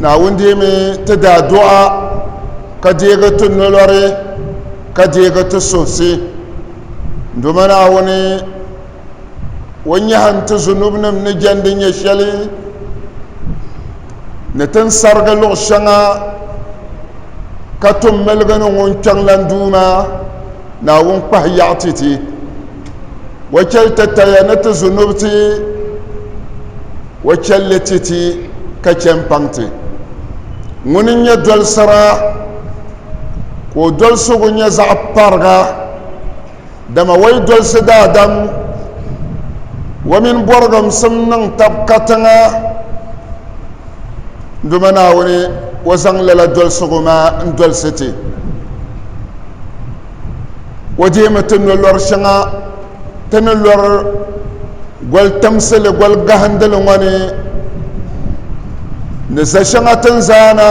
naawuni deemi ti daa duɣa ka deegi ti nolɔri ka deegi ti suhisi doma naawuni o nyɛhim ti zunubnim ni jɛndi nyɛ shɛli ni tin sarigi luɣ shɛŋa ka tum miligi ni ŋun kpɛŋlan duuma naawuni kpahi yaɣa ti ti wa chɛli tataya ni ti zunubi ti wa chɛlli ti ti ka chɛ n paŋ ti ŋuni n nyɛ dolisira ka o dolisigu nyɛ zaɣ pariga dama wa yi dolisi daadam wa mini bɔrigimsim niŋ tab katiŋa duma naawuni wa zaŋ lala dolisigu maa n dolisi ti o deemi ti no lɔri shɛŋa ti ni lɔri goli timsili goli gahindili ŋɔ ni ni za shɛŋa tin zaana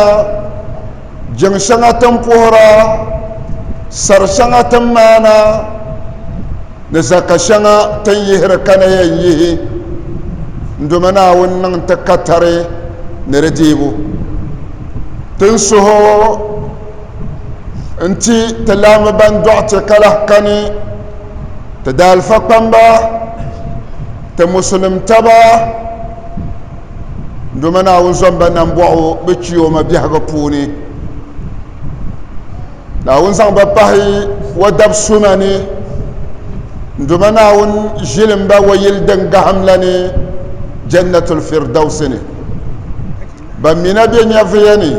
jiŋ shɛŋa tin puhira sari shɛŋa tin maana ni zaka shɛŋa tin yihiri ka na yɛn yihi n domi naawuni niŋ ti katari ni di deebu tin suhu n ti ti laami ban dɔɣite ka lahi kani ti daalifa kpamba ti musulim taba doma naawuni zɔmba nambɔɣu bɛ kiyoma biɛhigu puuni naawuni zaŋ ba pahi wa dab suma ni doma naawuni ʒilimba wa yili din gahimla ni jannatul firdausi ni Ban mi na be nyɛvuya ni,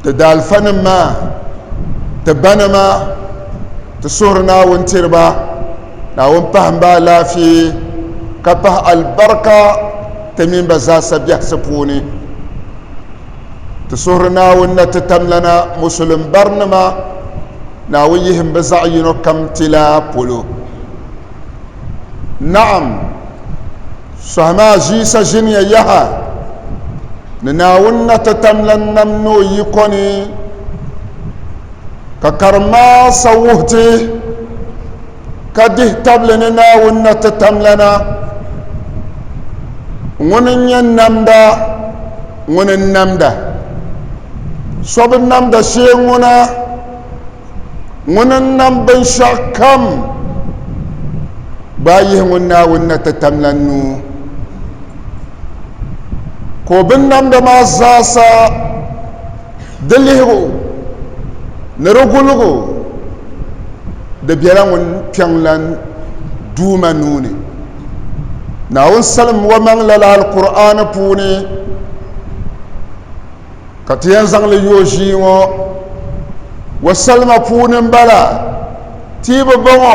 ti daalifanim maa, ti banima, ti suhuri Naawuni tiri ba, Naawuni pahim ba alaafee, ka pahi alibarika ti mini ba zaasa biɛhisi puuni. Ti suhiri Naawuni na ti tamlana Musulim barinima, Naawuni yihim bɛ zaɣ yino kam ti la polo. Naɣim! Sɔhi maa ʒiisa ʒiniya yaha ni Naawuni na ti tam lan nam ni o yiko ni, ka karim maa sa wuhi ti, ka dihi tabili ni Naawuni na ti tam lana, Ŋuni n-nyɛ namda, ŋuni n-namda? So bi namda shee ŋuna. Ŋuni n-nam binshɛɣu kam gbaai yihi ŋun Naawuni na ti tam la nuu, ka o binnamda maa zaasa di lihigu ni di guligu di bela ŋun kpiɔŋlan Duuma nuu ni. Naawuni salim omaŋ lala Alkur'aani puuni. ka ti yɛn zaŋli yo ʒii ŋɔ wa salima puuni m-bala ti bi bɔŋɔ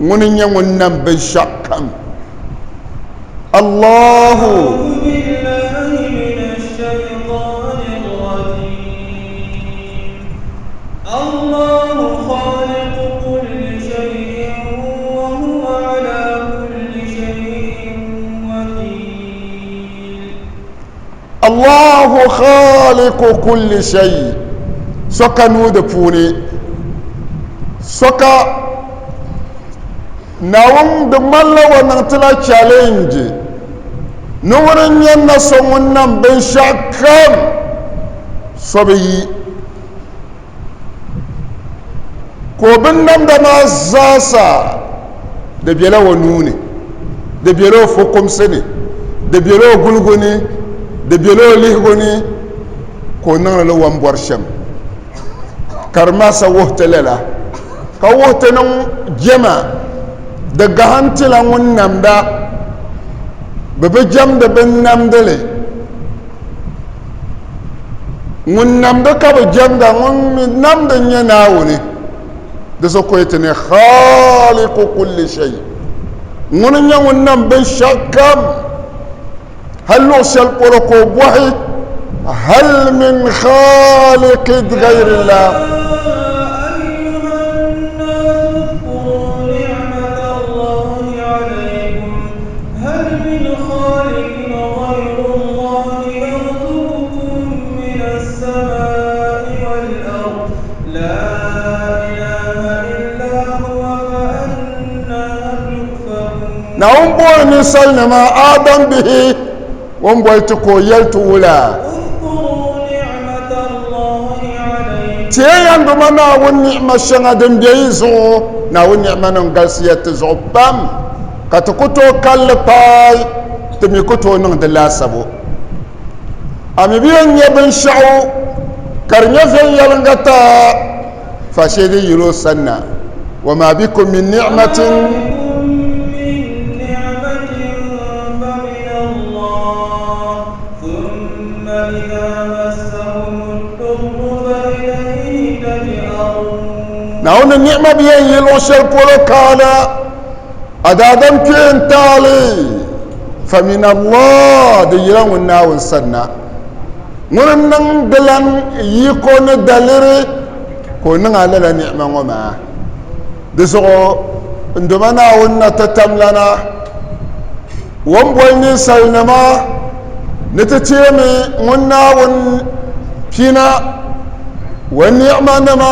ŋuni n-nyɛ ŋun nam binshɛɣu kam Allahu Allahu khaliqu kulli shay so ka nuu di puuni so ka Naawuni di ŋmanila o niŋ ti la challenge ni ŋuni n-nyɛ na so ŋun nam binshɛɣu kam so bi yi ka o binnamda maa zaasa di bela o nuu ni di bela o fukumsi ni di bela o guligu ni di bela o lihigu ni ka o niŋdi li wambɔri shɛm ka di maasa wuhi ti lala ka wuhi ti niŋ jɛma di gahintila ŋun namda bɛ bi jɛmdi binnamdili ŋun namdi ka bi jɛmda ŋun mi namdi n-nyɛ Naawuni di so koyi ti ni Khaliqu kulli shay ŋuni n-nyɛ ŋun nam binshɛɣukam hal luɣ shɛli polo ka o bɔhi hal min khaliqid ghayrillah Naawuni booni ninsalinima Adam bihi o ni boli ti ka o yɛli ti wula. Ti yɛn yan doma Naawuni ni'ima shɛŋa din be yi zuɣu. Naawuni ni'ima nim galisiya ti zuɣu pam. Ka ti ku tooi kalli paai, ti mi ku tooi niŋ di laasabu. A mi bi yɛn nya binshɛɣu ka di nyɛ viɛnyɛliŋga ta fa shee din yiri o sanna. Wa ma bikum min ni'matin. Naawuni ni'ma bi yɛn yi luɣ shɛli polo kaana. A daadam kpee n taali famin Allah di yila ŋun Naawuni sanna. Ŋuni n niŋ di lan yiko ni daliri ka o niŋ a lala ni'ima ŋɔ maa? Di zuɣu n doma Naawuni na ti tamlana o ni boli ninsalinima ni ti teemi ŋun Naawuni pina o ni'ima nima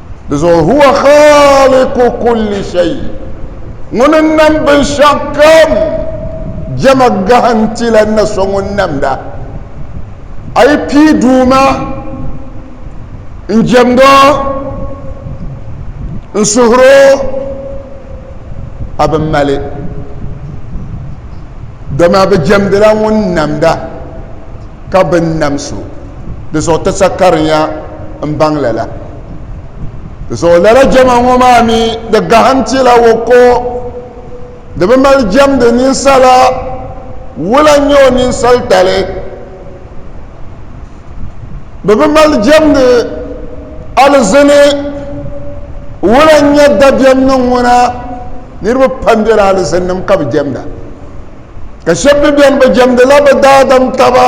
Di zuɣu huwa khaliku kulli shay. Ŋuni n-nam binshɛɣu kam. Jɛma gahi n-ti la na so ŋun namda. A yi pii Duuma n-jɛmd o, n-suhir o, a bi mali. Dama bɛ jɛmdila ŋun namda. ka bɛ ni nam so di zuɣu ti sa karinya m-baŋ lala. Di zuɣu lala jɛma ŋɔ maa mi di gahim ti la o ko di bi mali jɛmdi ninsala wula n-nyɛ o ninsalitali. Bɛ bi mali jɛmdi alizini wula n-nyɛ dabiɛmnim ŋuna niriba pam bela alizinnim ka bi jɛmda. ka shɛb mi bɛn bi jɛmdila bɛ daadam taba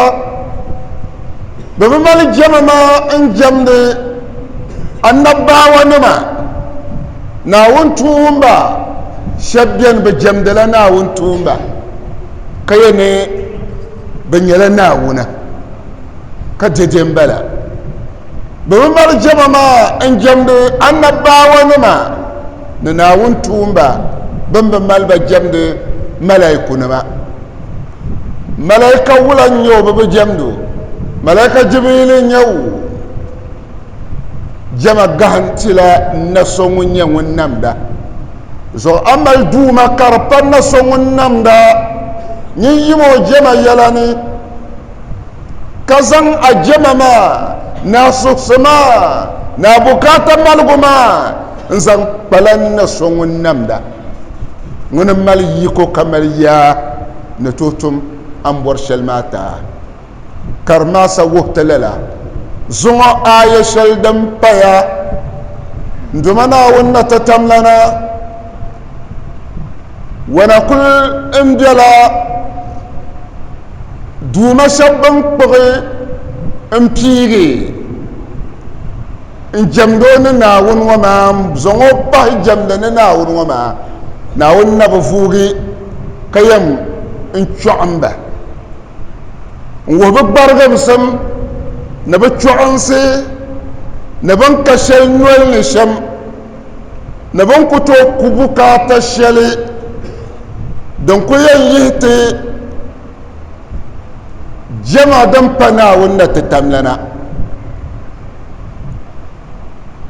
bɛ bi mali jɛma maa n-jɛmdi annabaawanima Naawuni tuumba shɛb bɛn bi jɛmdila Naawuni tuumba ka yɛ ni bɛ nyɛla Naawuna ka dɛde m-bala bɛ bi mali jɛma maa n-jɛmdi annabaawanima ni Naawuni tuumba bɛn bi mali ba jɛmdi malaikunima. Malaika wula n-nyɛ o bɛ bi jɛmdi o? Malaika Jibriili n-nyɛ o. Jɛma gahin ti la n na so ŋun nyɛ ŋun namda zuɣu. A mali Duuma ka di pa n na so ŋun namda nyin yim o jɛma yɛla ni. ka zaŋ a jɛma maa ni a suhisi maa ni a bukaata maligu maa n-zaŋ kpala n-na so ŋun namda ŋuni m-mali yiko ka mali yaa ni tooi tum a ni bɔri shɛli maa taa. Karimasa wuhi ti lala zuŋɔ aaya shɛli din paya N Duuma Naawuni na ti tamlana Wana kuli n bela Duuma shɛb bɛn kpuɣi n piigi n jɛmd o ni Naawuni ŋɔ maa n zaŋ o bahi jɛmdi ni Naawuni ŋɔ maa, Naawuni na bi vuugi ka yɛm n chɔɣim ba n wuhi bɛ gbarigimsim ni bɛ chɔɣinsi ni bɛn ka shɛli nol ni shɛm. ni bɛ ni ku tooi ku bukaata shɛli din ku yɛn yihi ti jɛma din pa Naawuni na ti tam lana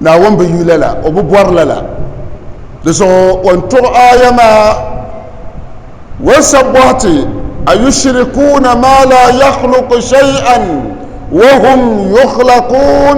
Naawuni bi yu lala o bi bɔri lala di zuɣu o ni tuɣi aaya maa wan sabi bɔhi ti ayushirikuuna ma la yakhluqu shay'an wa hum yukhlaqun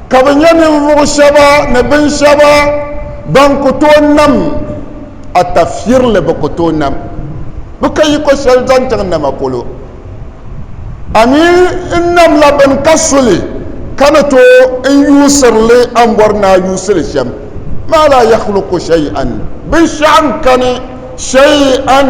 ka bɛ nyɛ ninvuɣ shɛba ni bin shɛba bɛn ku tooi nam atafirili bɛ ku tooi nam bɛ ka yiko shɛli zaŋ chaŋ nama polo. A mi n namla bini ka su li, ka ni tooi n yuusiri li a ni bɔri ni a yuusi li shɛm, maa laa yahluku shay'an, binshɛɣu n-kani shay'an.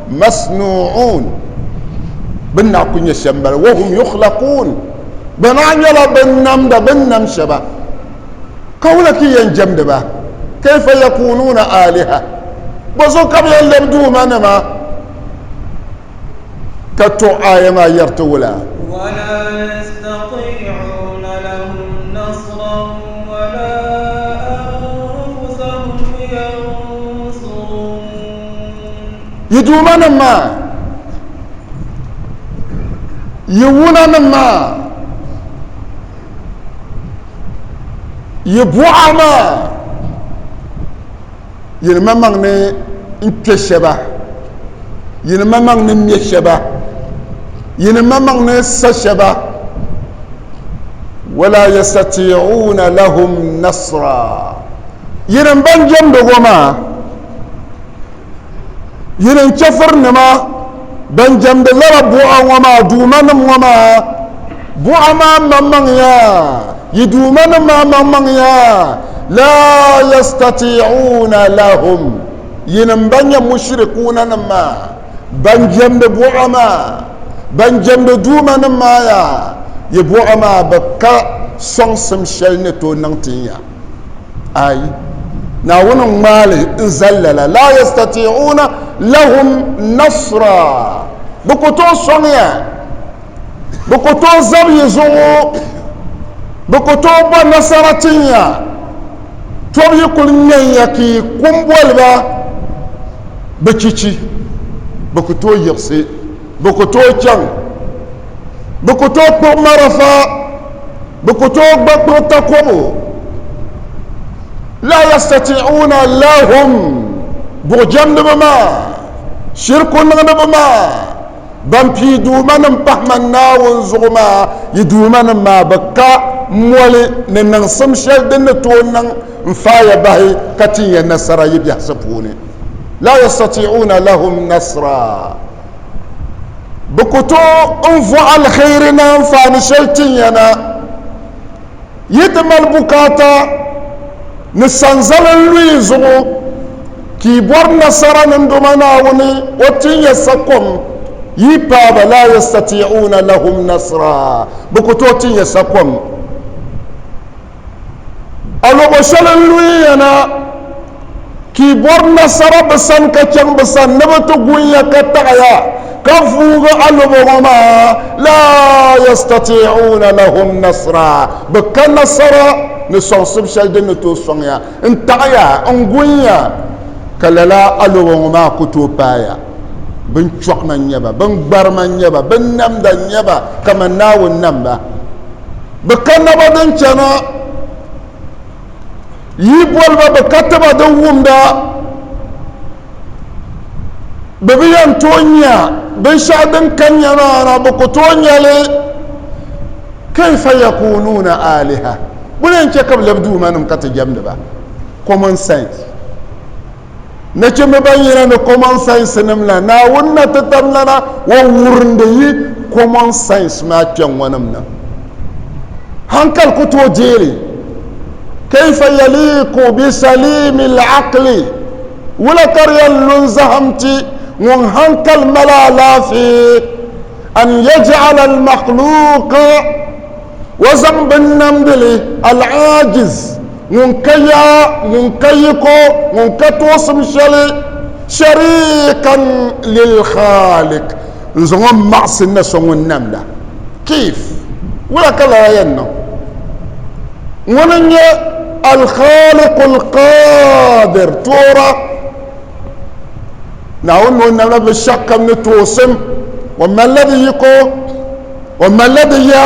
masnu'un bin na ku nyɛ shɛm bala wa hum yukhlaqun bɛ na nyɛla bin namda bin nam shɛba ka wula ki yɛn jɛmdi ba kayfa yakununa aliha bɔ so ka bɛ yɛn lɛbi duuma nima ka to aya maa yɛriti wula yi duuma nim maa yi wuna nim maa yi buɣa maa yini ma maŋ ni n kpɛ shɛba yini ma maŋ ni mɛ shɛba yini ma maŋ ni sa shɛba wala yastati'una lahum nasra yini ban jɛmdigo maa Yinim chɛfurinima ban jɛmdi lala buɣa ŋɔ maa duumanim ŋɔ maa buɣa maa maŋmaŋya, yi duumanim maa maŋmaŋya, laa yastatii'uuna lahum, yinim ban nyɛ mushirikuunanim maa, ban jɛmdi buɣa maa, ban jɛmdi duumanim maa ya, yi buɣa maa bi ka sɔŋsim shɛli ni tooi niŋ ti ya. ayi naawuni n ŋmaali n zali lala la yastatiuna lahum nasra bi ku tooi sɔŋya bi ku tooi zab yi zuɣu bi ku tooi bɔ nasara tinya tɔb yi kuli ŋmɛnya ka yi kumboliba bi chichi bi ku tooi yiɣisi Bɛ ku tooi chaŋ. Bɛ ku tooi kpuɣi marafa. Bɛ ku tooi gba kpuɣi takobo. La yastati'uuna lahum buɣujɛmdiba maa, shiriku niŋdiba maa, ban pii duumanim pahi man Naawuni zuɣu maa, yi duumanim maa bɛ ka moli ni niŋsim shɛli din ni tooi niŋ n-faai ya bahi ka tin ya nasara yi biɛhisi puuni. La yastati'uuna lahum nasra. Bɛ ku tooi n-vɔh alheri ni anfaani shɛli ti ya na. Yi ti mali bukaata ni sanzali n-lu yi zuɣu ka yi bɔri nasara ninduma Naawuni o ti n-ya sakom, yi paai ba laa yastatii'uuna lahum nasra, bɛ ku tooi ti n-ya sakom. A luɣu shɛli n luhiya na, ka yi bɔri nasara bɛ sani ka chaŋ bɛ sani ni bɛ ti gun ya ka taɣi ya ka vuugi a lubo ŋɔ maa, laa yastatii'uuna lahum nasraa, bɛ ka nasara ni sɔŋsibu shɛli din ni tooi sɔŋ ya n-taɣi ya n-gun ya, ka lala a lubo ŋɔ maa ku tooi paai ya. Binchɔɣima n-nyɛ ba, biŋgbarima n-nyɛ ba, binnamda n-nyɛ ba kaman Naawuni nam ba. bɛ ka naba din chana, yi boli ba bɛ ka tiba din wumda, bɛ bi yɛn tooi nya binshɛɣu din ka nya maa na, bɛ ku tooi nya li. Kaifa yakunuuna aaliha, bɔ ni yɛn chɛ ka bɛ lab duumanim ka ti jɛmdi ba? Common sense. Nachimba ban yina ni common science nim la, Naawuni na ti tam lana o wurindi yi common science maa kpɛŋŋɔ nim na. Hankali ku tooi deeli. Kayfa yaliiku bi saliimi l-aqli, wula ka di yɛn lu n-zahim ti ŋun hankali mali alaafee, an yaj'ala al-makhluuqa, o zaŋ binnamdili, al-aajiz, Ŋun ka ya, ŋun ka yiko, ŋun ka tuɣisim shɛli, shariikan lilkhaalik, n zaŋ o maɣisi n na sɔŋ o nam la, kif, wula ka lala yɛn niŋ? Ŋuni n nyɛ Alkhaaliku Alqaadir, Toora, Naawuni ni o nam la bi shɛkam ni tuɣisim, o mali la di yiko, o mali la di ya,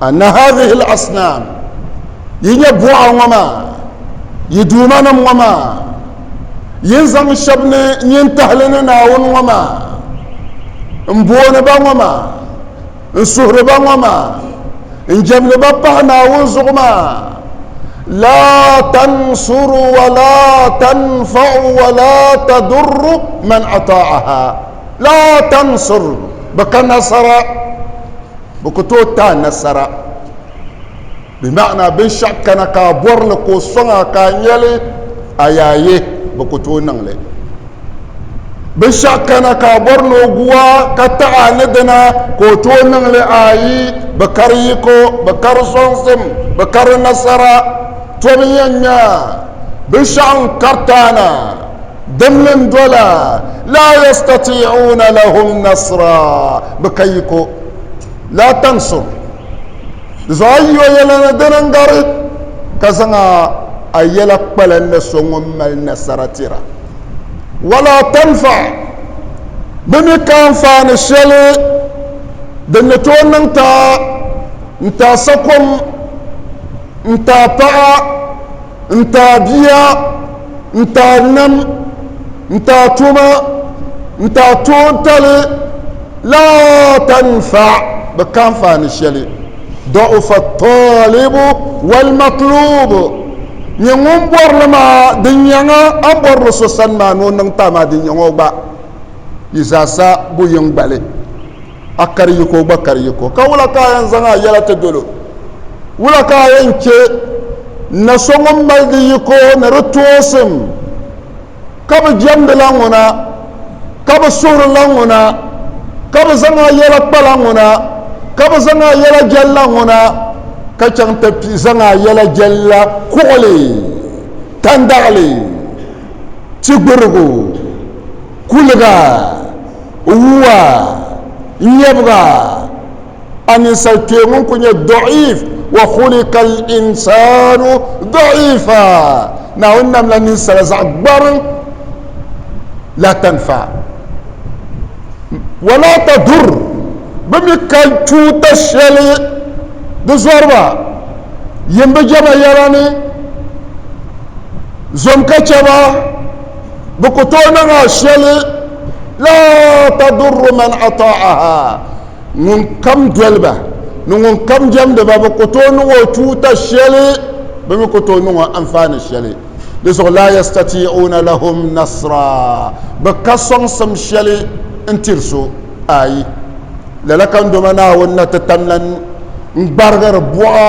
anna hadhihi al-asnam yi nyɛ buɣa ŋɔ maa yi duuma nim ŋɔ maa yin zaŋ shɛba ni nyin tahili ni naawuni ŋɔ maa n booni ba ŋɔ maa n suhuri ba ŋɔ maa n jɛmdi ba pahi naawuni zuɣu maa la tansuru wala tanfau wala tadurru man ataaha La tansur bɛ ka nasara bɛ ku tooi ti a nasara bi maana binshɛɣu kana ka a bɔri li ka o sɔŋ a ka a nya li a yaa ye bɛ ku tooi niŋ li binshɛɣu kana ka a bɔri ni o gu a ka taɣi a ni dina ka o tooi niŋ li a yi bɛ ka di yiko bɛ ka di sɔŋsim bɛ ka di nasara tɔbu yɛn nya binshɛɣu n-kariti a na Dimli n dola, laa yastati'uuna lahum nasra, bɛ ka yi ko, laa tansur, di zuɣu a yi o yɛla ni dini n gari, ka zaŋ a a yɛla kpala ni so ŋun mali nasara tira, walaa tanfa, bɛ mi ka anfaani shɛli din ni tooi niŋ ti a, n ti a sakum, n ti a paɣa, N taai bia, n taai nam, n taai toma, n taai toontali la tanfa bi ka anfaani shɛli. Dɔɣufa tɔlibu wal matlubu, nyɛ ŋun bɔri li maa din nyɛŋa, a ni bɔri li so sani maa ni o niŋ taai maa din nyɛŋa o gba yi zaasa bo yiŋgbali. A kari yiko gba kari yiko, ka wula ka a yɛn zaŋ a yɛla ti dolo? Wula ka a yɛn chɛ na so ŋun mali di yiko ni di toosim, ka bi jɛmdila ŋuna, ka bi suhirila ŋuna, ka bi zaŋ a yɛla kpala ŋuna, ka bi zaŋ a yɛla jɛlila ŋuna, ka chaŋ ti kpi zaŋ a yɛla jɛlila kuɣili, tandaɣili, tigurigu, Kuliga, Wuwa, Nyɛbiga, A ninsal kpee ŋun kuli nyɛ dɔɣiif, wa khulika al-insaanu dɔɣiifa, Naawuni namla ninsala zaɣ gbariŋ, laa tanfa, wa laa tadur, bɛ mi ka tuuta shɛli di zɔriba, yimbu jɛma yɛla ni, zom ka chɛ ba. Bɛ ku tooi niŋ a shɛli, la tadurru man ata'aha, ŋun kam doli ba ni ŋun kam jɛmdi ba, bɛ ku tooi niŋ o tuuta shɛli, bɛ mi ku tooi niŋ o anfaani shɛli. Di zuɣu la yastati'una lahum nasra, bɛ ka sɔŋsim shɛli n-tiri so. Ayi! Lala kandoma Naawuni na ti tamla n-gbarigiri buɣa.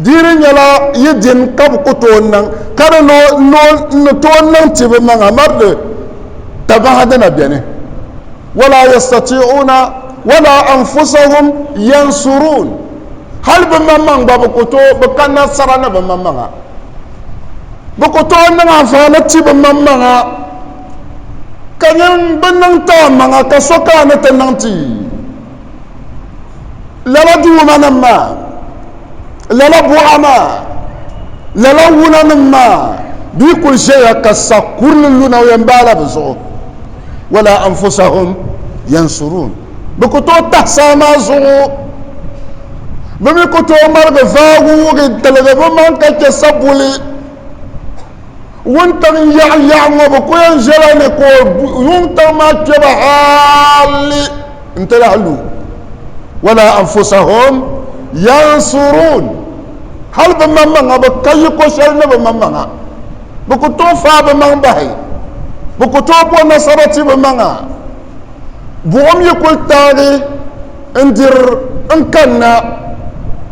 Di ni nyɛla yi din ka bi ku tooi niŋ, ka di ni n ni tooi niŋ ti bi maŋa mardi tabaha di na beni. Wala yastati'una wala anfusahum yansuruun. Hal bi maŋmaŋ gba bi ku tooi bi ka nasara ni bi maŋmaŋa. Bi ku tooi niŋ anfaani ti bi maŋmaŋa, ka nyin bi niŋ ti a maŋa ka so ka a ni ti niŋ ti. lala duuma nim maa lala buɣa maa lala wuna nim maa bee kuli ʒɛya ka sa kurili luna o yɛn baala bi zuɣu wala anfusahum yansurun bi ku tooi tahi saa maa zuɣu bi mi ku tooi ŋmaligi vaagi wugi tiligi bi maŋ ka chɛ sabuli wuntaŋ yaɣa yaɣa ŋɔ bi ku yɛn ʒɛla ni ka wuntaŋ maa kpɛba hali n ti lahi lu wala anfusahum yansurun hali bi maŋ maŋa bi ka yi ko shɛli ni bi maŋ maŋa bi ku tooi faa bi maŋ bahi bi ku tooi bo nasara ti bi maŋa buɣum yi kuli taagi N dir n kanna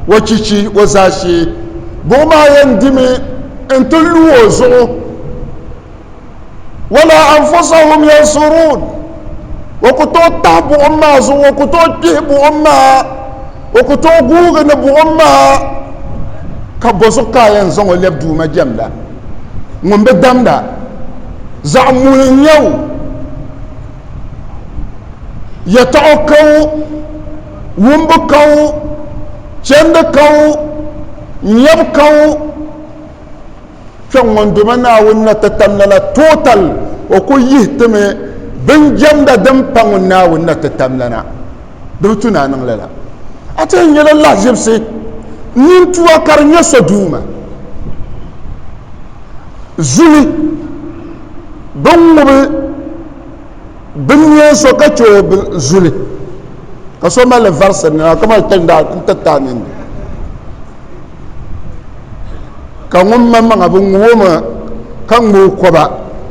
o chichi o zaashee, buɣ maa yɛn dimi nti lu o zuɣu. Wala anfusahum yansuruun, o ku tooi tahi buɣim maa zuɣu, o ku tooi kpihi buɣim maa, o ku tooi guugi ni buɣim maa, ka bɔzuɣu ka a yɛn zaŋ o lɛbi Duuma jɛmda ŋun bi damda? Zaɣ muhi n-nyɛ o. yɛtɔɣ kaŋ wumbu kaŋ chɛndi kaŋ nyɛbu kaŋ kpɛŋ ŋun doma Naawuni na ti tam lala total o ku yihi ti mi bin jɛmda din pa ŋun Naawuni na ti tam lana di bi tu ni a niŋ lala a ti yɛn nyɛla lahiʒibisi nintua ka di nyɛ sɔduuma zuli bin ŋubi bin ŋmɛ so ka chɛ o bin zuli ka so mali varisi nima ka mali tandaa n ti taa nindi ka ŋun ma maŋa bin ŋubi o maŋa ka ŋmɛ o koba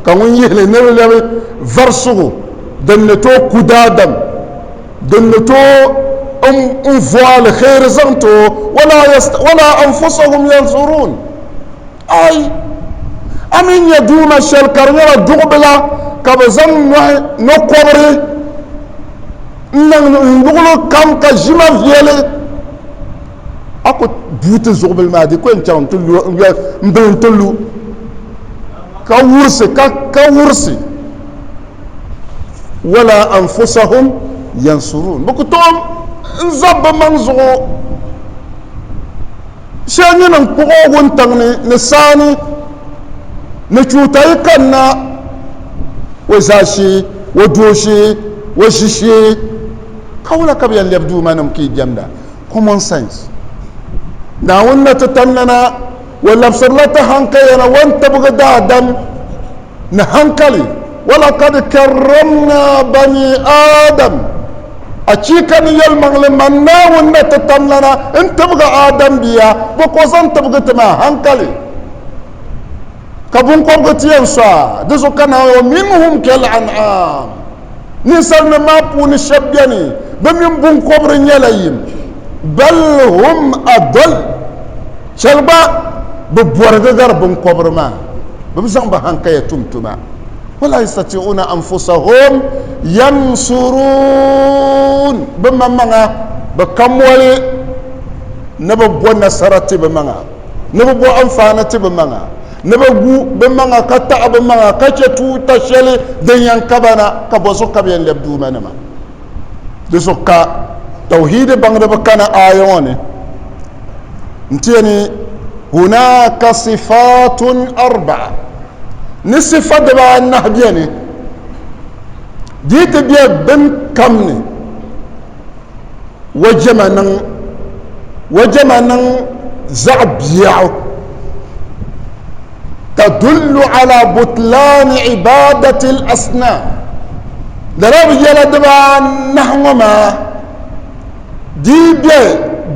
ka ŋun yihili ni di lɛbi varisigu din ni tooi ku daadam din ni tooi n vɔ alheri zaŋ ti o wala anfusahum yansurun Ai! A mi nya duuma shɛli ka di nyɛla duɣubila ka bɛ zaŋ nɔhi nɔkɔbiri n-niŋ n luɣili kam ka ʒi ma viɛli? A ku bui ti zuɣubili maa di ku yɛn chaŋ nti lu m-bili nti lu ka wurisi ka ka wurisi wala anfusahum yansuruun bɛ ku tooi n-zab bɛ maŋ zuɣu. Shɛli nyini n-kpuɣ o wuntaŋ ni ni saani ni chuuta yi kanna o zaashee, o dooshee, o ʒishee. Ka wula ka bɛ yɛn lɛbi Duumanim ka yi jɛmda? Common sense. Naawuni na ti tannana, o labisirila ti hankayana o ni tibigi daadam. ni hankali. Walakad karramna bani Adam, achiika ni yɛlimaŋli man Naawuni na ti tamlana n-tibigi Adam bia, bɛ ko zaŋ tibigi ti ma, hankali, ka biŋkɔbigu ti yɛn so a di zuɣu ka naai o minhum kal-an'am. Ninsalinim maa puuni shɛb beni, bɛ mini biŋkɔbiri nyɛla yim. Bal hum adall, chɛli gba bɛ bɔrigi gari biŋkɔbiri maa, bɛ bi zaŋ bɛ hankaya tum tuma. Wala yastati'una anfusahum yansuruun, bɛ maŋmaŋa bɛ ka moli ni bɛ bo nasara ti bɛ maŋa, ni bɛ bo anfaani ti bɛ maŋa. ni bɛ gu bɛ maŋa ka taɣi bɛ maŋa ka chɛ tuuta shɛli din yɛn ka ba na, ka bɔ zuɣu ka bɛ yɛn lɛbi duumanima? Di zuɣu ka Tawhiidi baŋdiba kana aaya ŋɔ ni nti yɛn ni Hunaaka sifaatun arba'a ni sifa dibaanahi beni di yi ti be bin kam ni wa jɛma niŋ wa jɛma niŋ zaɣ biɛɣu tadullu ala butlaani ibadati l asnam lala bi yɛla dibaanahi ŋɔ maa dii bɛ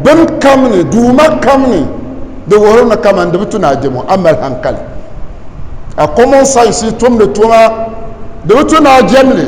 bin kam ni duuma kam ni di wuhiri ni kaman di bi tu ni a jɛmo a mali hankali a common science tumdi tuma di bi tu ni a jɛmli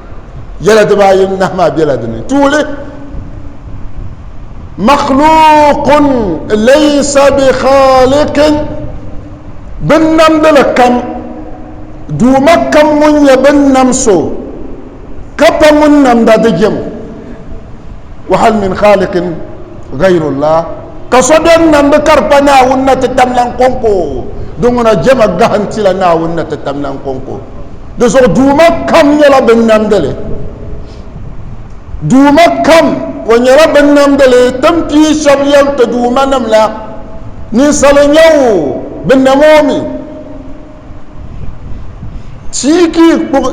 yɛla dibaayi nahi maa bela di ni tuuli makhluqun laysa bi khaliqin bin namdili kam duuma kam ŋun nyɛ bin nam so ka pa ŋun namda di jɛm wa hal min khaliqin ghayrullah ka so bɛn namdi ka di pa naawuni na ti tamlan kɔŋko di ŋuna jɛma gahintila naawuni na ti tamlan kɔŋko Di zuɣu duuma kam nyɛla bin namdili. Duuma kam o nyɛla bin namdili tin pii shɛb yɛn ti duuma nim la ninsali nyɛ o bi nam o mi. Tia ka i kpuɣi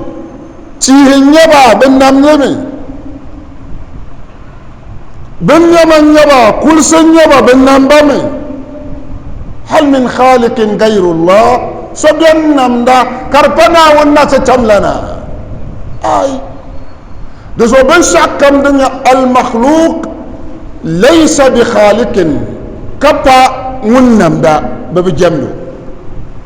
tihi n-nyɛ ba bi namli mi. Bin nyɔba n-nyɛ ba, kulisi n-nyɛ ba, bɛ nam ba mi. Hal min khalikin gayru Allah, so beni namda ka di pa Naawuni na ti tam lana? Aai! Di zuɣu binshɛɣu kam din nyɛ al-makhluq laysa bi khalikin ka pa Ŋun namda, bɛ bi jɛmd o.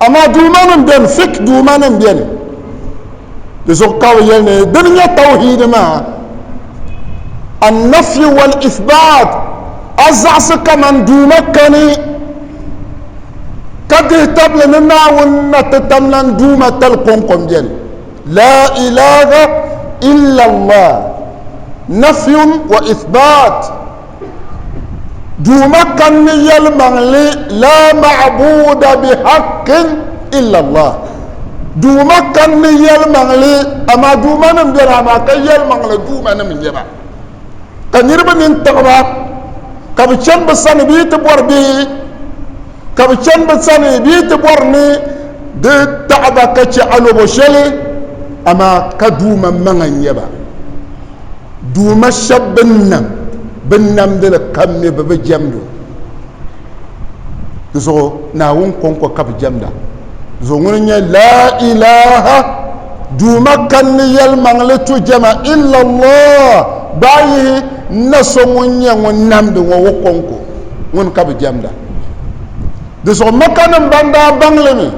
Amaa duumanim beni, fiqh duumanim beni. Di zuɣu ka bɛ yɛli ni dini nyɛ tawhiid maa, An-nafyu wal-ithbaat, a zaɣisi kaman duuma kani ka dihi tabili ni Naawuni na ti tam lan duuma tali kɔŋko m-beni, Laa ilaaha illa Allah, nafyun wa ithbaat. Duuma kanni yɛlimaŋli laa ma'buda bihaqqin illa Allah. Duuma kanni yɛlimaŋli amaa duumanim beni amaa ka yɛlimaŋli duumanim n-nyɛ ba. Ka niriba nini tiɣi ba ka bɛ chani bɛ sani bɛ yi ti bɔri bɛ Ka bɛ chani bɛ sani bɛ yi ti bɔri ni di taɣi ba ka chɛ alobo shɛli, amaa ka Duuma maŋa n-nyɛ ba. Duuma shɛba bɛ ni nam, bɛ ni namdi li kam mi bɛ bi jɛmd o. Di zuɣu Naawuni kɔŋko ka bɛ jɛmda. Di zuɣu ŋuni n-nyɛ Laa ilaah, Duuma kanli yɛlimaŋli tu jɛma, illallah, gbaai yihi n-na so ŋun nyɛ ŋun namdi ŋɔ o kɔŋko. Ŋuni ka bɛ jɛmda. di zuɣu maka nim ban daa baŋli mi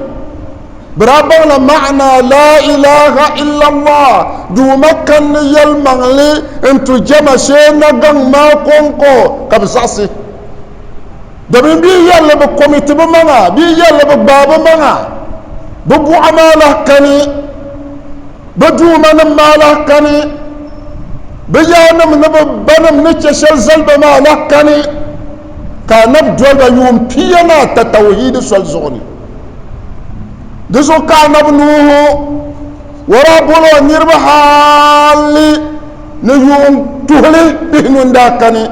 bi daa baŋla maana la ilaha illallah duuma kanni yɛlimaŋli n tu jɛma shee na gaŋ maa kɔŋko ka bi zaɣisi domin bi yɛlli bi komiti bi maŋa bi yɛlli bi gbaa bi maŋa bi buɣa maa lahi kani bi duuma nim maa lahi kani bi yaanima ni bi banim ni chɛ shɛli zaliba maa lahi kani ka anabi doliba yuun pia ni ata tawuhiidi soli zuɣu ni. Di zuɣu ka anabi Nuuhu wɔra bol o niriba hali ni yuun tuhili bihi nun daa kani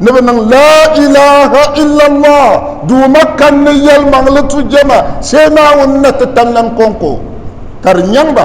ni bɛ niŋ Laa ilaha illallah Duuma kanni yɛlimaŋli tu jɛma shee Naawuni ni ti tanlan kɔŋko ka di nyaŋ ba.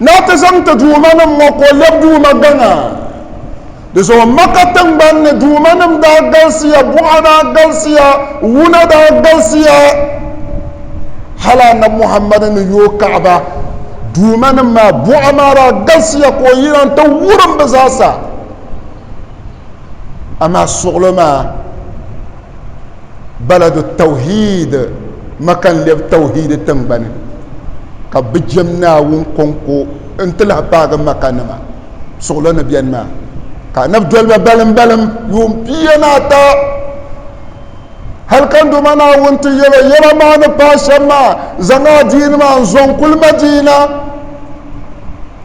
Ni o ti zaŋ ti Duumanim ŋɔ ka o lɛbi Duuma gaŋa. Di zuɣu Maka tiŋgbani ni Duumanim daa galisiya, buɣa daa galisiya, wuna daa galisiya. Hal Annabi Muhammad ni yooi Kaaba, Duumanim maa buɣa maa daa galisiya ka o yina nti wurim bɛ zaasa. Amaa suɣilo maa. baladu tawhid maka n lɛbi tawhid tingbani ka bi jɛm naawuni kɔŋko n ti lahi paagi maka nima suɣulo ni bɛni maa ka anabi doliba balim balim yuun pia ni ata hali ka nduma naawuni ti yɛlo yɛla maa ni paai shɛm maa zaŋ adiini maa n zɔŋ kuli madiina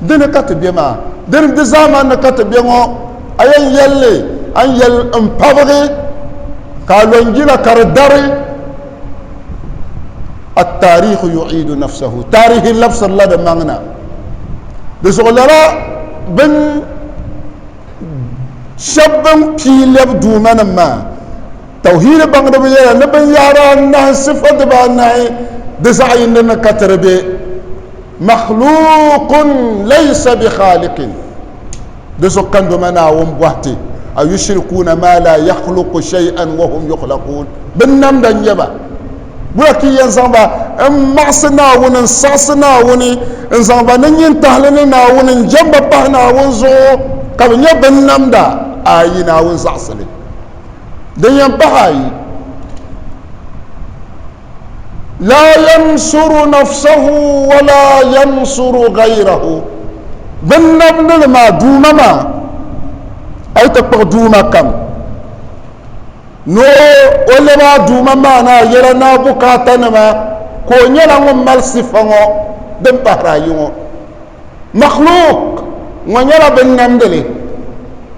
Di ni ka ti be maa? Di ni di zaaman ni ka ti be ŋɔ? A yɛn yɛl li, a ni yɛl n pabigi ka a lɔnjina ka di dari. Attaarihu yu'iidu nafsahu, taarihi labisirila di maŋ na. Di zuɣu lala bin shɛb bin pii lɛbi Duuma nim maa, Tawhiidi baŋdiba yɛla ni binyɛhiri anahi, sifa dibaanahi, di zaɣ yindi ni ka tiri be makhluuqun laysa bi khaaliqin, di zuɣu ka ndoma Naawuni bɔhi ti, a yushirikuuna maa laa yakhluqu shay'an wa hum yukhlaquun, binnamda n-nyɛ ba, bura ka yi yɛn zaŋ ba m-maɣisi Naawuni, n-saɣisi Naawuni, n-zaŋ ba ni nyintahili ni Naawuni, n-jɛm ba pahi Naawuni zuɣu, ka bɛ nyɛ binnamda? Ayi, Naawuni zaɣisi li. Din yɛn pahi ayi, laa yansuru nafsahu wala yansuru gayrahu, din nabni li maa Duuma maa, a yi ti kpuɣi Duuma kam ni o lɛbi a Duuma maa ni a yɛla ni a bukaatanima ka o nyɛla ŋun mali sifa ŋɔ din pahiri ayi ŋɔ. Makhluq ŋɔ nyɛla bin namdi li,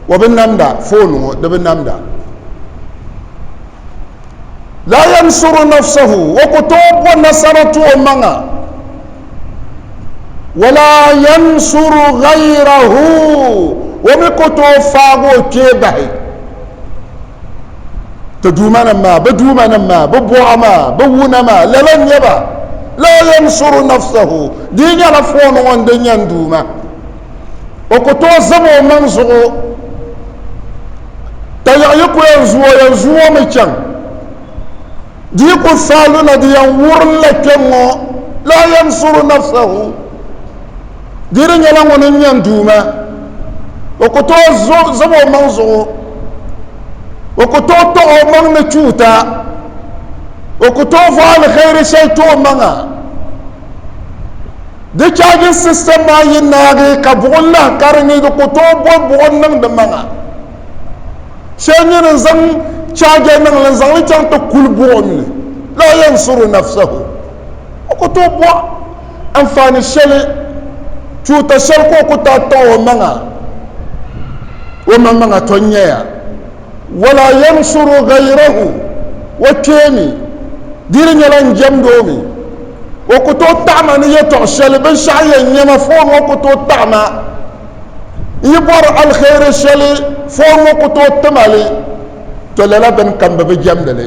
o bi namda, foon ŋɔ di bi namda. Laa yansuru nafsahu, o ku tooi bo nasara ti o maŋa. Wala yansuru ghayrahu, o mi ku tooi faagi o kpee bahi. ti duumanim maa bɛ duumanim maa bɛ buɣa maa bɛ wuna maa lala n-nyɛ ba laa yansuru nafsahu di yi nyɛla fooni ŋɔ n-di nyan duuma o ku tooi zam o maŋ zuɣu ka yaɣ yi ku yɛn zu o yɛn zu o mi chaŋ di yi ku saaluna di yɛn wurim la kpɛŋ ŋɔ laa yansuru nafsahu Di di nyɛla ŋuni n-nyɛ n Duuma, o ku tooi zom o maŋ zuɣu, o ku tooi taɣ o maŋ ni chuuta, o ku tooi vɔ alihɛiri shɛli ti o maŋa. Di charging system maa yi naagi ka buɣim lahi karigi, di ku tooi bɔ buɣim niŋ di maŋa. Shɛli nyini n-zaŋ charger niŋ li n-zaŋ li chaŋ ti kuli buɣim ni, laa yansuru nafsahu, o ku tooi bɔ. Anfaani shɛli tuuta shɛli ka o ku taa taɣi o maŋa o maŋ maŋa to nyaya wala yansuru ghayrahu o kpeemi di di nyɛla n jɛmdi o mi o ku tooi taɣima ni yɛtɔɣ shɛli binshɛɣu yɛn nyɛ ma foon ŋɔ ku tooi taɣima n yi bɔri alheri shɛli foon ŋɔ ku tooi ti ma li to lala bini kam bɛ bi jɛmdi li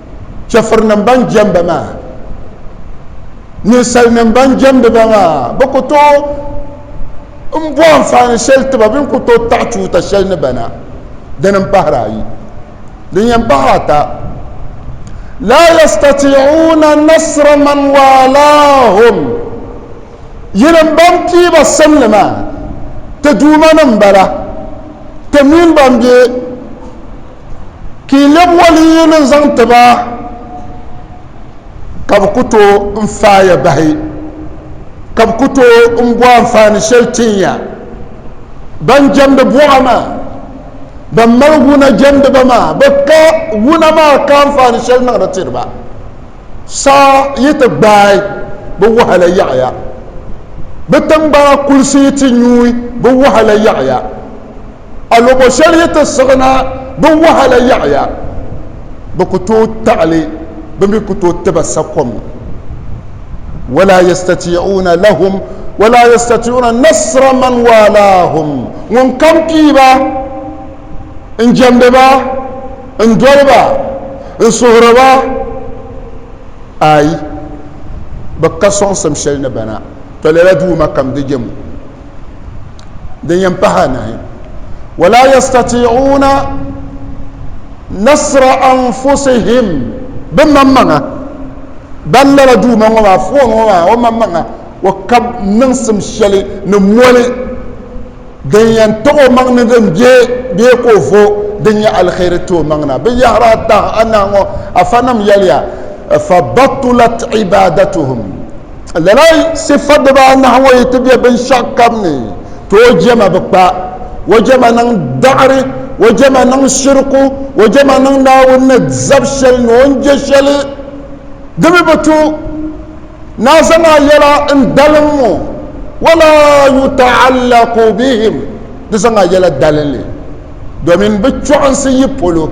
chɛfurinim ban jɛmba maa, ninsalinim ban jɛmdi ba maa, bɛ ku tooi m-bo anfaani shɛli ti ba bee n-ku tooi taɣi chuuta shɛli ni ba na, dini m-pahiri ayi. Din yɛn pahi ata, laa yastatii'uuna nasra man waalaahum, yinim ban pii ba simli maa, ti Duumanim m-bala, ti min ban be. Ka yi lɛbi waliyinim n-zaŋ ti ba, ka bɛ ku tooi n-faaya bahi, ka bɛ ku tooi m-bo anfaani shɛli tin ya. Ban jɛmdi buɣa maa, ban mali wuna jɛmdi ba maa, bɛ ka wuna maa ka anfaani shɛli niŋdi tiri ba. Saa yi ti gbaai, bɛ wahala yaɣiya. Bɛ tiŋgbana kulisi yi ti nyuui, bɛ wahala yaɣiya. A luɣu shɛli yi ti siɣi na bɛ wahala yaɣiya, bɛ ku tooi taɣili bɛ mi ku tooi ti ba sakom. Wala yastati'uuna lahum wala yastati'uuna nasra man waalaahum ŋunkam pii ba n-jɛmdi ba n-doli ba n-suhiri ba, aai, bɛ ka sɔŋsim shɛli ni ba na, tɔ lala Duuma kam di jɛm o. din yɛn pahi anahi wala yastati'una nasra anfusihim bɛ maŋmaŋa ban lala duuma ŋɔ maa foon ŋɔ maa o maŋmaŋa o ka niŋsim shɛli ni moli din yɛn taɣi o maŋ ni din bɛ bee ka o vo din nyɛ alheri ti o maŋ na bɛ yɛhira tahi anahi ŋɔ afa nim yɛliya fa batulat ibadatuhum Lala sifa dibaanahi ŋɔ yi ti be binshɛɣu kam ni, ti o jɛma bi kpa, o jɛma niŋ daɣiri, o jɛma niŋ shiriku, o jɛma niŋ Naawuni ni zab shɛli ni o ni je shɛli. Di mi bi tu ni a zaŋ a yɛla n-dalim ŋɔ, wala yuta'allaku bihim, di zaŋ a yɛla dalinli domin bi chɔɣinsi yi polo.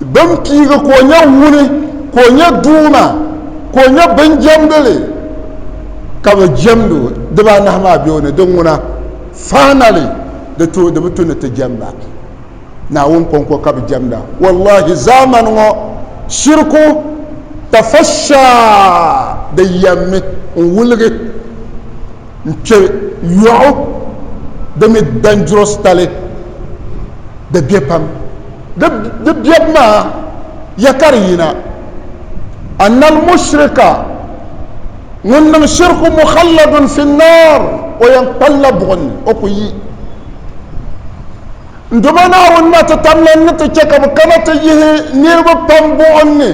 Bɛn piigi ka o nyɛ wuni, ka o nyɛ Duuma, ka o nyɛ binjɛmdili, ka bɛ jɛmd o dibaanahi maa be o ni, di ŋuna, finally, di tooi di bi tu ni ti jɛm ba. Naawuni kɔŋko ka bɛ jɛmda. Wallahi zaamani ŋɔ shiriku tafasha di yɛmmi n-wuligi n-kpe yɔɣu di mi dangerous tali di be pam. Di biɛbu maa ya ka di yina, Annal mushrika, ŋun niŋ shirku mukhalladun fi nnaar, o yɛn kpalla buɣi ni, o ku yi. N Duuma Naawuni na ti tamla n ni ti chɛ ka bɛ kana ti yihi niriba pam buɣim ni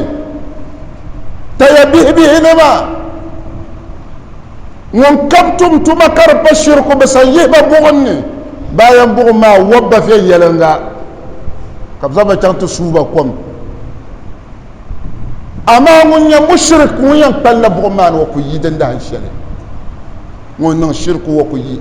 taya bihibihi nima. Ŋun kam tum tuma ka di pa shiriku bɛ san yihi ba buɣim ni, bayan buɣim maa wɔb ba viɛnyɛliŋga, ka bɛ zaŋ ba chaŋ ti suui ba kom. Amaa ŋun nyɛ mushirik ŋun yɛn kpalila buɣim maa ni o ku yi din dahin shɛli, ŋun niŋ shiriku o ku yi.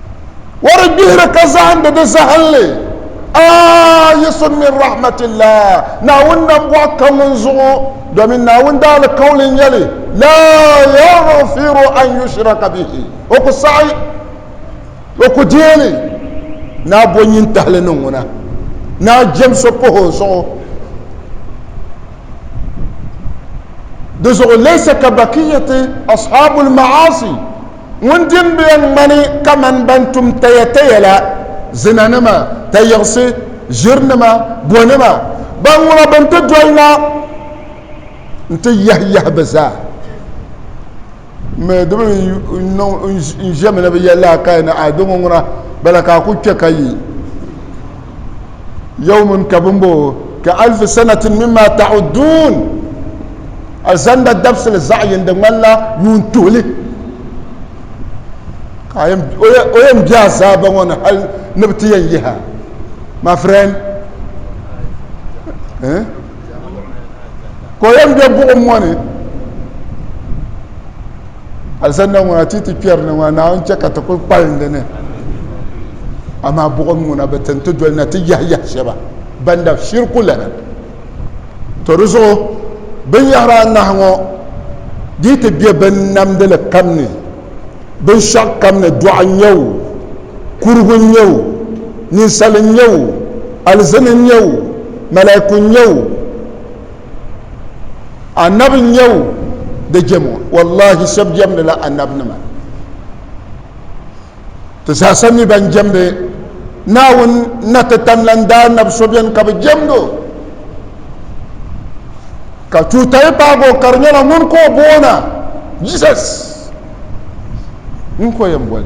O di gbihiri ka zahindi di zahinli. Ayisun min rahmatillah, Naawuni nambɔɣu ka ŋun zuɣu, domin Naawuni daalikauli n-nyɛ li, la yaghfiru an yushraka bihi, O ku saɣi, O ku deeni ni a bo nyintahili ni ŋuna, ni a jɛm so pahi O zuɣu. Di zuɣu laysa ka bakiyati ashabul ma'asi, Ŋun dimbiya ŋmani kamani ban tum tayataya la, zinanima, tayiɣisi, ʒirinima, bonima, ban ŋuna bɛ ni ti doli na nti yahiyahi bɛ zaa. Mɛ di bi niŋ n ʒemi ni bi yɛli a ka yi ni, Adamu ŋuna, bala ka a ku kpe ka yi. yawmun ka bin boo ka alfi sanatin mimma ta'udduun alizanda dabisili zaɣ yini di ŋmanila yuun tuhili ka o yɛn bɛ azaaba ŋɔ ni hali ni bi ti yɛn yihi a my friend ka o yɛn bɛ buɣum ŋɔ ni alisanna ŋɔ na ti ti kpɛri ni ŋɔ naawuni chɛ ka ti kuli kpalim di ni amaa buɣim ŋuna bi tin ti doli na ti yahi yahi shɛba ban dab shiriku lana to di zuɣu binyɛhiri anahi ŋɔ di ti be bin namdili kam ni binshɛɣu kam ni dɔɣu n-nyɛ o kurigu n-nyɛ o ninsali n-nyɛ o alizini n-nyɛ o malaiku n-nyɛ o anabi n nyɛ o di jɛmo wallahi shɛbi jɛmdi la anabi nima ti zaasa mi ban jɛmdi naawuni na ti tamlan daa anabi so bɛni ka bi jɛmdo ka tuutayi paago ka di nyɛla ŋun ka o boona jesus ŋun ko yɛn boli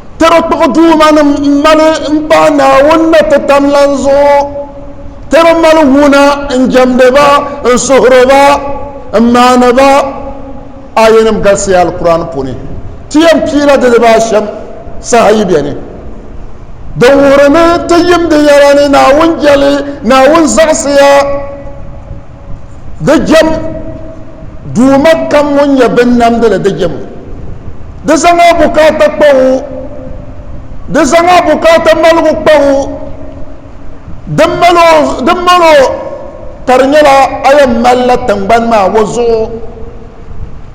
Tɛra kpuɣi duumanim m-mali m-pahi Naawuni ni ti tam lan zuɣu. Tɛra mali wuna n-jɛmdi ba, n-suhiri ba, m-maani ba. Aayanim galisiya Alkur'aani puuni. Ti yɛn piila di dibaa ashɛm saha yi beni. Di wuhiri ni ti yim di yɛla ni Naawuni jɛli, Naawuni zaɣisiya. Di jɛm Duuma kam ŋun nyɛ binnamdi li di jɛmo. Di zaŋ a bukaata kpa o, di zaŋ a bukaata maligu kpa o, din mal o, din mal o ka di nyɛla a yɛn malila tiŋgbani maa o zuɣu.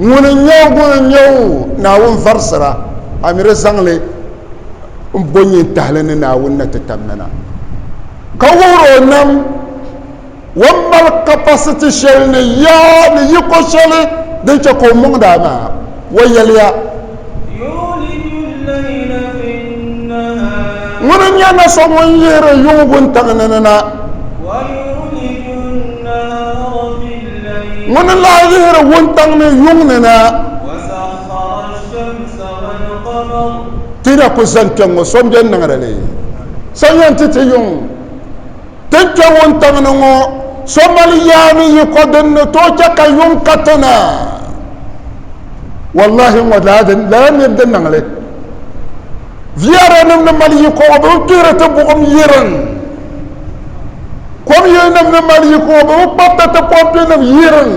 Ŋuni n-nyɛ o, ŋuni n-nyɛ o? Naawuni varisira, a ni di zaŋ li m-bo nyin tahili ni Naawuni na ti tam nana, ka wuhir o nam o ni mali kapasiti shɛli ni ya ni yiko shɛli din chɛ ka o mɔŋdi a maa. O yɛliya. Ŋuni n nyɛ na so ŋun yihiri yuŋ wuntaŋ ni ni na. Ŋuni n lahi yihiri wuntaŋ ni yuŋ ni na. Ti yi na kuli zani kpɛŋŋo so n beni niŋdi li? So n yɛn ti ti yuŋ? Ti kpe wuntaŋ ni ŋɔ, so mali yaa ni yiko din ni tooi chɛ ka yuŋ ka ti na? Wallahi ŋɔ daa di lala nir din niŋ li. Viɛrinim ni mali yiko ŋɔ bɛ bi kpihiri ti buɣim yirin. Komyilinim ni mali yiko ŋɔ bɛ bi kpabiti ti pompinim yirin.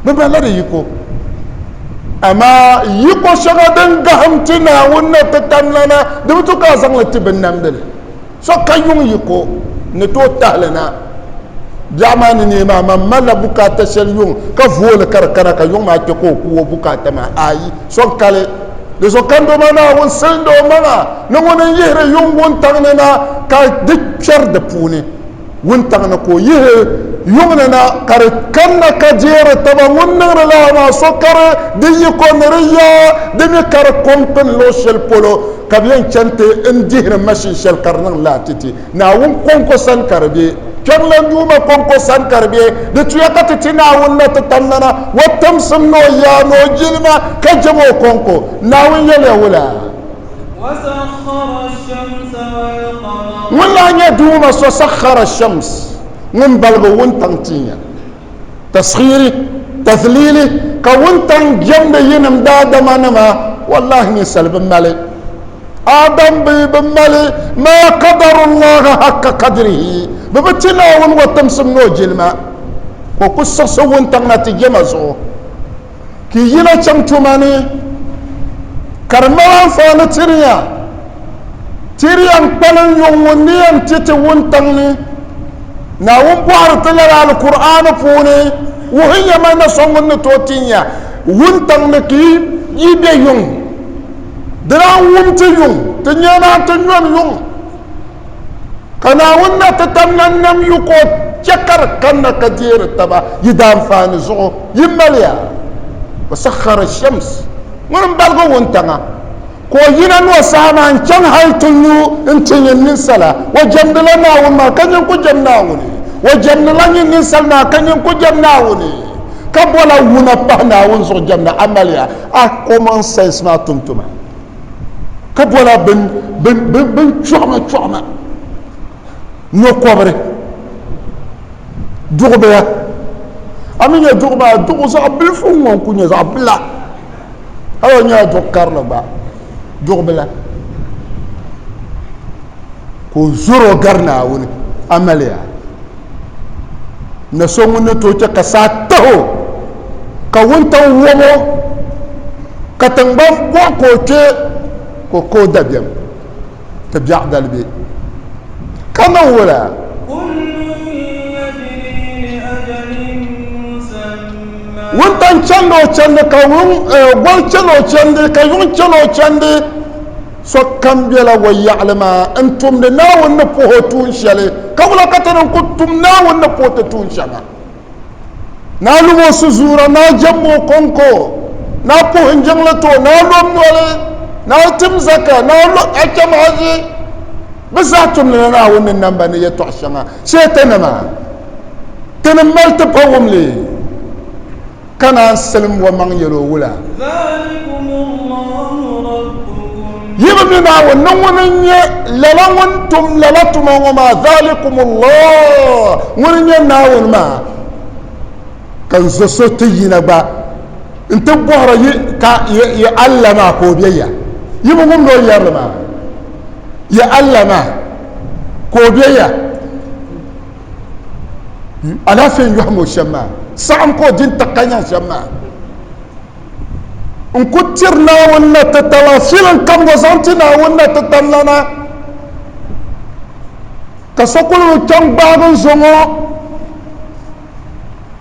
Bɛ malila di yiko. Amaa yiko shɛŋa din gahim ti Naawuni ni ti tam lana, di bi tu ka a zaŋ li ti binnamdili. so ka yuŋ yiko ni tooi tahili na biɛɣu maa ni neei maa man malila bukaata shɛli yuŋ ka vooli ka di kana ka yuŋ maa kpe ka o ku o bukaata maa ayi so n kali di so kando ma naawuni silindo maŋa ni ŋuni n yihiri yuŋ wuntaŋ ni na ka di kpɛri di puuni wuntaŋ ni ka o yihi yuŋni na ka di kanna ka jeeri taba ŋun niŋdi lala maa so kari di yiko ni di yaa di mi kari kom pini luɣ shɛli polo ka bɛ yɛn chani ti n dihiri mashin shɛli ka di niŋ laatiti Naawuni kɔŋko sani ka di be Kpiɔŋlan Duuma kɔŋko sani ka di be di tuya ka ti ti Naawuni na ti tam nana o timsim ni o yaa ni o jilima ka jɛm o kɔŋko Naawuni yɛliya wula ŋun lahi nyɛ duuma so sakhara shams ŋun baligi wuntaŋ tiinya taskhiri tathilili ka wuntaŋ jɛmdi yinim daadama nima wallahi ninsali bi mali adam bi bi mali maa kadarullaha hakka kadirihi bi bi ti naawuni o timsim ni o jilima ka o ku siɣisi wuntaŋ na ti jɛma zuɣu Ti yi na chaŋ tuma ni, ka di mali anfaani tiriya. Tiriya n-kpalim yuŋ ŋun ni yɛn ti ti wuntaŋ ni. Naawuni bɔhiri ti lala Alkur'aani puuni, Wuhi ya ma na so ŋun ni tooi ti ya wuntaŋ ni ka yi be yuŋ. Di daa wum ti yuŋ, ti nyɛnaan ti nyɔn yuŋ. Ka Naawuni na ti tam na nam yu ka o chɛ ka di kanna ka deeri taba yi daanfaani zuɣu, yi maliya. Wasakhara shams, ŋuni m-baligi wuntaŋa, ka o yina ni o saha maa n-chaŋ hal ti lu nti nyin ninsala. O jɛmdila Naawuni maa, ka nyin ku jɛm Naawuni. O jɛmdila nyin ninsal maa, ka nyin ku jɛm Naawuni. Ka bɔla wuna pahi Naawuni zuɣu jɛmda? A maliya a common sense maa tumtuma? ka bɔla bin chɔɣima chɔɣima nɔkɔbiri duɣubiya a mi nyɛ duɣu maa duɣu zaɣ bilifu ŋɔ n-ku nyɛ zaɣ bila hali o nyɛla duɣu karili gba duɣu bila ka o zoro gari naawuni amaliya na so ŋun ni tooi chɛ ka saa tahi o ka wuntaŋ wɔb o ka tiŋgbani buɣi ka o kpɛ ka o ka o dabiɛm ti biɛɣu dalibiɛ ka niŋ wula wuntaŋ chɛndi o chɛndi ka gɔri chɛni o chɛndi ka yuŋ chɛni o chɛndi Sokam bela o yaɣili maa n-tumdi Naawuni ni puhi o tuun shɛli, ka wula ka ti ni ku tum Naawuni ni puhi ti tuun shɛŋa? Naa lum o suzuura, naa jɛm o kɔŋko, naa puhi n jiŋli ti o, naa lom noli, naa tim zaka, naa lo a cham haji. Bɛ zaa tumdila Naawuni ni namba ni yɛtɔɣ shɛŋa. Shɛtanima! Ti ni mali ti pa wumli. ka naan silim o maŋ yɛl o wula. Yi bi mi Naawuni ni ŋun n-nyɛ lala ŋun tum lala tuma ŋɔ maa, dhalikumullah, ŋun n-nyɛ Naawuni maa, ka n zo so ti yina gba nti bɔhiri yi ka yi Allah maa ka o be ya? Yi bi wumd o yɛrli maa? Yi Allah maa ka o be ya? alaafee n yɔhim o shɛm maa saɣim ka o di n-tiɣi ka nyaŋ shɛm maa n ku tiri Naawuni na ti tala filin kam ŋɔ zaŋ ti Naawuni na ti tam lana ka so kuli chaŋ gbaagi n zo ŋɔ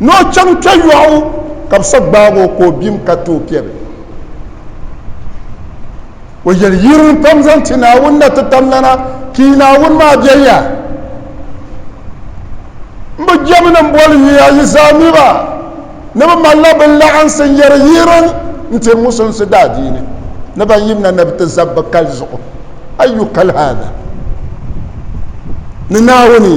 ni o chaŋ kpe yɔɣu ka bɛ so gbaag o ka o bim ka ti o piɛbi. O yɛli, Yirim pam zaŋ ti Naawuni na ti tam lana, ka yi Naawuni maa be ya. M bi jɛmi ni m boli yuya yi zaa mi ba ni bɛ malila bɛ laɣinsi n-yɛri yirim n-ti Musulinsi daadiini ni ban yim na ni bɛ ti zab bɛ kali zuɣu. Ayyu kal haadha ni Naawuni!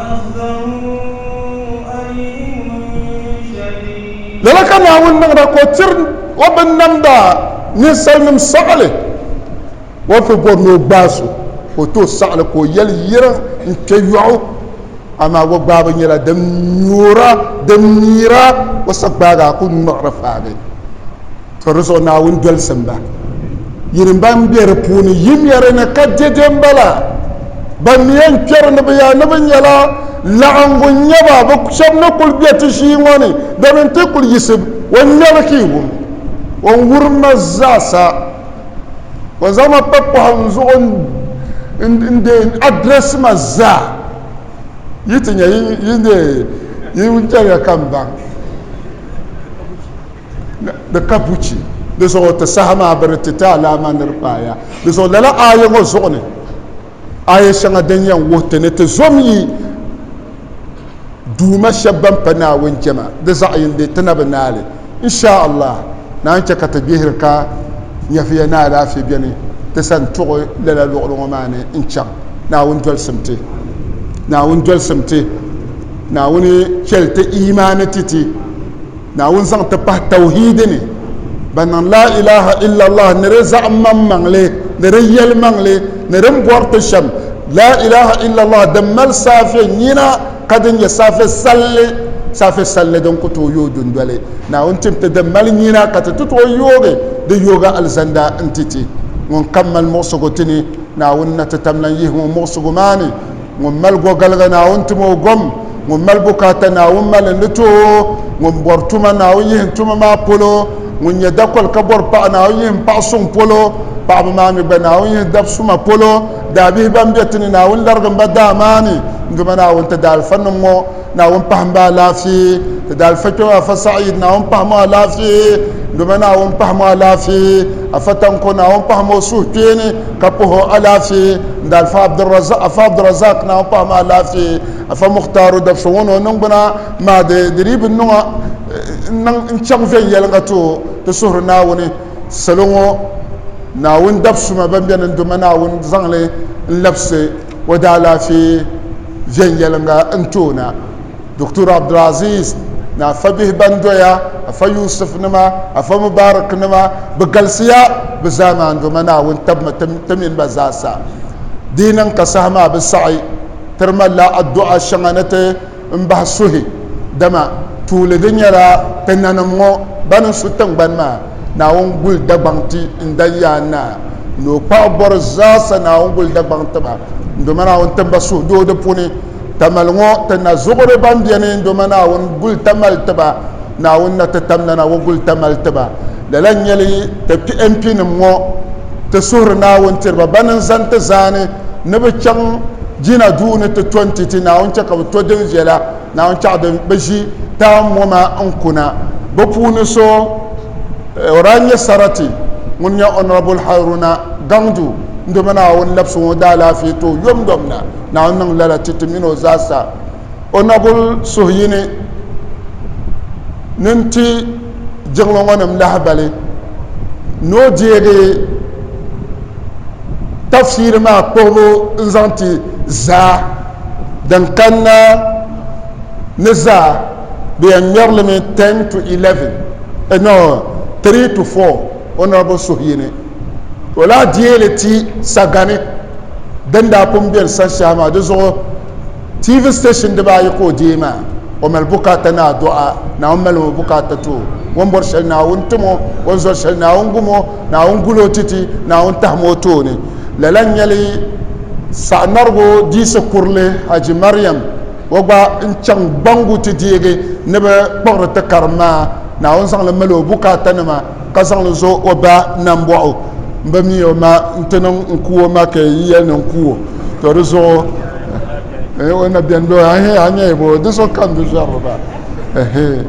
Lala ka Naawuni niŋda ka o tiri o binnamda ninsalinim saɣili warisi bɔri ni o gbaai so ka o ti o saɣili ka o yɛli yirim n-kpe yɔɣu, amaa wagbaabu nyɛla din nyora, din miira o sagbaagi a ku ŋmiɣiri faagi. To di zuɣu Naawuni dolisimba yini ban be di puuni yi ŋmɛri ni ka dede m-bala. Ban ni yɛn kpɛri ni bɛ yaa ni bɛ nyɛla laɣiŋgu n-nyɛ ba, bɛ shɛba ni kul be ti ʒii ŋɔ ni, bɛ ni ti kul yiɣisi o ŋmɛbu ka yi wum o ni wurim ma zaasa. O zaŋ ma pa pɔhim n zuɣu n-deei n address ma zaa. Yi ti nya yi ni deei yi wuntɛliga ka m baŋ. ni ka buchi di zuɣu ti saha maa bɛ ni ti ti alaama ni di paaya di zuɣu lala aaya ŋɔ zuɣu ni aaya shɛŋa din yɛn wuhi ti ni ti zom yi duuma shɛba ban pa Naawuni jɛma di zaɣ yindi ti na bi naai li insha Allah naan chɛ ka ti gbihiri ka nyɛviya ni alaafee beni ti sani tuɣi lala luɣili ŋɔ maa ni n-chaŋ Naawuni dolisim ti Naawuni dolisim ti Naawuni chɛli ti imaani ti ti Naawuni zaŋ ti pahi tawhiidi ni ban niŋ laa ilaha illallah ni di zaɣim maŋ maŋli ni di yɛli maŋli ni din bɔri ti shɛm laa ilaha illallah din mali saafe nyina ka din nyɛ saafe salli saafe salli din ku tooi yooi dundoli Naawuni tim ti din mali nyina ka ti ti tooi yoogi di yooga alizanda n-ti ti ŋun kam mali muɣisigu ti ni Naawuni na ti tamlan yihi ŋɔ muɣisigu maa ni ŋun mali gɔgaliga Naawuni tim o gom, ŋun mali bukaata Naawuni mali ni ti o, ŋun bɔri tuma Naawuni yihi tuma maa polo, ŋun nyɛ dakɔli ka bɔri paɣa Naawuni yihi paɣa suŋ polo, paɣaba maa mi gba Naawuni yihi dab suma polo, daabihi ban be ti ni Naawuni larigim ba daa maa ni, n Duuma Naawuni ti daalifanim ŋɔ. Naawuni pahim ba alaafee, ti daalifa kpɛbu Afa Sa'id, Naawuni pahim o alaafee, Ndoma Naawuni pahim o alaafee, Afa Tanko, Naawuni pahim o suhukpeeni ka pah o alaafee, Ndaalifa Abdulrazaq, Afa Abdulrazaq, Naawuni pahim o alaafee, Afa Mukhtaru, Dabso ŋɔ ni o niŋgbuna maa di dii bi niŋ a n-niŋ n-chaŋ viɛnyɛliŋga ti o, ti suhiri Naawuni salo ŋɔ Naawuni dabisuma ban beni Ndoma Naawuni zaŋ li n-labisi o daalaafee viɛnyɛliŋga n-toona, Doctor Abdulaziz ni Afa bihi ban doya, Afa Yusuf nima, Afa Mubarak nima, bɛ galisiya bɛ zaamaandoma Naawuni tabimi ti mini ba zaasa. Di yi niŋ ka saha maa bi saɣi, tiri malila addu'a shɛŋa ni ti m-bahi suhi, dama tuuli di nyɛla ti nanim ŋɔ ban n-su tiŋgbani maa, Naawuni guli Dagbaŋ ti n-dan ya a naa ni o kpaɣu bɔri zaasa, Naawuni guli Dagbaŋ ti ba n-doma Naawuni timba suhudoo di puuni, Tamali ŋɔ ti na zuɣuri ban beni n-doma Naawuni guli Tamali ti ba, Naawuni na ti tamnana ŋɔ guli Tamali ti ba. Lala n-nyɛli bɛ piɛmpinim ŋɔ ti suhiri Naawuni tiri ba bɛn n zani ti zaani ni bɛ chaŋ Jina duu ni ti to nti ti Naawuni chɛ ka bɛ to din viɛla Naawuni chɛɣu di ni bɛ ʒi taai moma n kuna. Bɛ puuni so o daa nyɛ sarati ŋun nyɛ Honourable Haruna Gangdu n dimi Naawuni labisi ŋɔ daalaafee tooi yomyom na. Naawuni niŋ lala ti ti min o zaasa. Honourable suhuyini ni n ti. jiŋli ŋɔ nim lahibali ni o deegi tafsiri maa kpuɣibu n zaŋ ti zaa din kanna ni zaa bɛ yɛn ŋmɛrilimi 10 to 11 no 3 to 4 honorable suhuyini ka o lahi deeli ti sagani din daa pun biɛni sanshɛhi maa di zuɣu TV station dibaa ayi ka o deei maa, o mali bukaata ni a dɔɣa, Naawuni mali o bukaata ti o, o ni bɔri shɛli Naawuni tim o, o ni zɔri shɛli Naawuni gum o, Naawuni gul o titi, Naawuni tahim o tooni. Lala n-nyɛli Sagnarigu Diisi Kurili Haji Mariam, o gba n-chaŋ gbaŋgu ti deegi ni bɛ kpuɣiri ti karim maa, Naawuni zaŋ li mali o bukaatanima. ka zaŋ li zo o ba nambɔɣu m-bi mi o ma nti niŋ n-ku o ma ka yi yɛli ni n-ku o, tɔ di zuɣu eh, o na beni doo, ahee, a nyɛya bɔ, di zuɣu ka n di zɔri ba, ahee,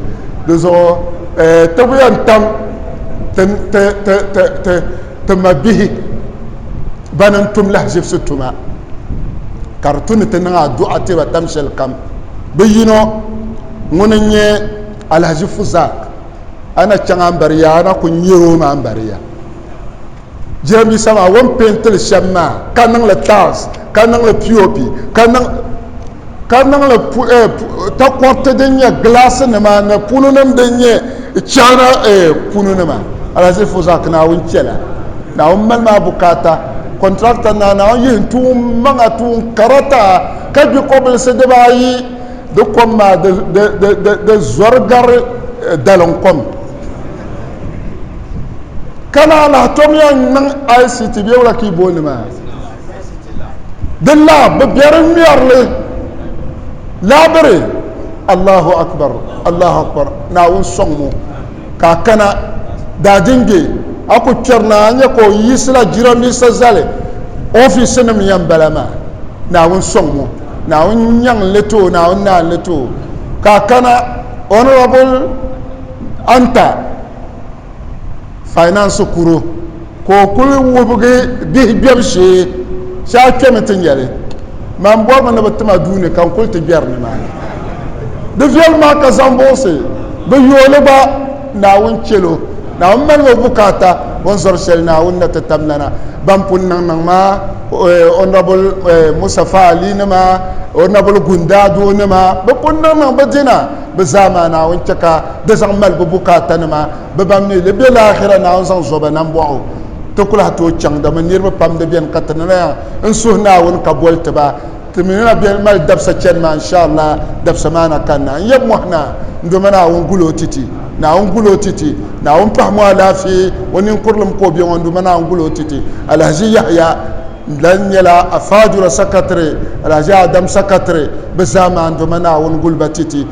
di zuɣu eh, ti bi yɛn tam ti, ti, ti, ti, ti, ti ma bihi ban n tum lahiʒibisi tuma ka di tu ni ti niŋ adu'a ti ba tam shɛlikam, bi yino ŋuni n-nyɛ Alhaji Fuzak. a na chaŋ a ni bari yaa a na ku nyɛri o maa bari ya jiranbiisa maa o ni peentili shɛm maa ka niŋli tiles ka niŋli pop ka niŋ ka niŋli takoriti din nyɛ gilaasi nima ni punu nim din nyɛ china punu nima alaziri fo zaa ka naawuni chɛla naawuni mali maa bukaata kɔntrata naa naawuni yihi n tuun maŋa tuun karata ka gbi kɔbilisi dibaayi Di kom maa di zɔri gari dalim kom. Ka ni alahi tomiya n-niŋ ICT bee wula ka yi booni maa. Di lab bi biɛri ŋmɛri li laabiri Allahu Akbar Allahu Akbar Naawuni sɔŋ mo. ka a kana daadinge a ku kpɛri ni a nya ka o yiɣisila jiramiinsa zali ofiisinim yɛn bala maa. Naawuni sɔŋ ŋɔ, Naawuni nyaŋ n-li ti o, Naawuni naai n-li ti o, ka a kana Honourable Anta Finance kuro. ka o kuli wubigi bihi gbɛbu shee shee a kpɛmi ti nya li maa n bɔrimi ni bi ti ma duuni ka n kuli ti gbɛri nimaani di viɛlim maa ka zaŋ buɣisi bi yooli gba naawuni chɛlo naawuni mali o bukaata o ni zɔri shɛli naawuni na ti tam nana ban pun niŋ niŋ maa honorable musafa ali nima honorable gundaado nima bi pun niŋ niŋ bi dina bi zaa maa naawuni chɛ ka di zaŋ mali bi bukaata nima Bɛ ban mi li be laahira Naawuni zaŋ zɔba na m-bɔh o, ti ku lahi tooi chaŋ, dama niriba pam di beni ka ti ni lahi n suhi Naawuni ka boli ti ba, ti mi ni na beni mali dabisa chani maa, n-sha'Allah, dabisa maa na kanna. N yab mɔhi na, n doma Naawuni, gul o titi. Naawuni gul o titi. Naawuni pahim o alaafee, o ninkurilim ka o be ŋɔ, n doma Naawuni gul o titi. Alahaji Yahaya lan nyɛla a faajura sakatiri, Alahaji Adam sakatiri, bɛ zaa maa n doma Naawuni gul ba titi.